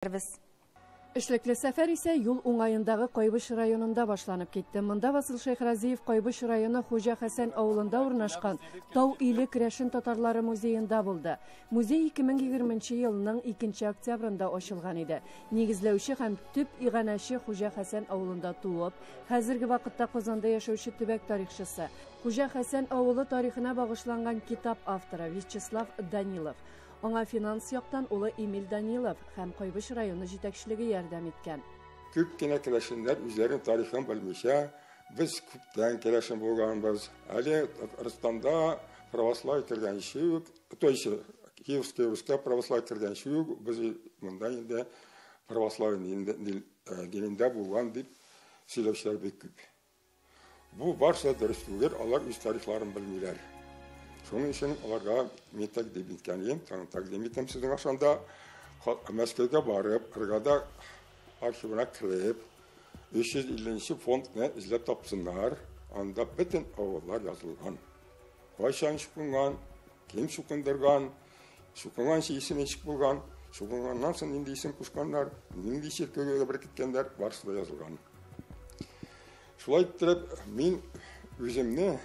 җиткерербез. Эшлекле сәфәр исә юл уңаендагы Кайбыч районында башланып китте. Монда Васил Шәйхразиев Кайбыч районы Хуҗа Хәсән авылында урнашкан Тау иле керәшен татарлары музеенда булды. Музей 2020 нче елның 2 нче октябрендә ачылган иде. Нигезләүче һәм төп иганәче Хуҗа Хәсән авылында туып, хәзерге вакытта Казанда яшәүче төбәк тарихчысы, Хуҗа Хәсән авылы тарихына багышланган китап авторы Вячеслав Данилов. Аңа финанс яктан улы Эмиль Данилов һәм Кайбыч районы җитәкчелеге ярдәм иткән. Күп кенә керәшеннәр үзләренең тарихын белмичә, Без күптән керәшен булганбыз. Әле Татарстанда православие кергәнче үк, то есть Киевская Руська православие кергәнче үк без монда инде православие динендә булган дип сөйләүчеләр бик күп. Бу барсы да дөрес түгел, алар үз тарихларын белмиләр. Шуның өчен аларга мин тәкъдим иткәнем, тәкъдим итәм сезнең ашанда, Мәскәүгә барып, Кыргада архивына кереп, 350 фондны эзләп тапсыннар, анда бөтен авыллар язылган. Кайчан чукынган, кем чукындырган, чукынган исеме ничек булган, чукынганнан соң нинди исем кушканнар, нинди чиркәүгә беркеткәннәр, барысы да язылган. Шулай иттереп, мин үземне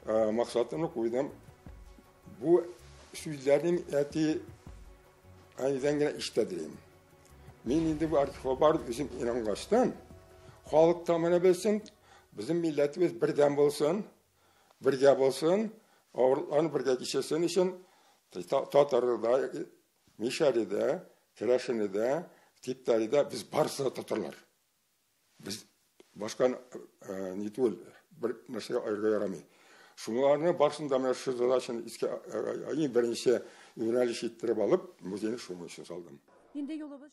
максатымны куйдым. Бу сүзләрнең әти әнидән генә ишетәдем. Мин инде бу архивга барып үзем ингәчтән, халык та менә белсен, безнең милләтебез бердәм булсын, бергә булсын, авырлыкларны бергә кичерсен өчен татарларда Мишәредә, Керәшенедә, Типтарида без барысы да татарлар. Без башка э, не түгел, бер нәрсәгә аерга ярамый. Шуларны барысын да менә шу задачаны искә э, э, иң беренче юнәлеш иттереп алып, музейны шуның өчен салдым. Инде юлыбыз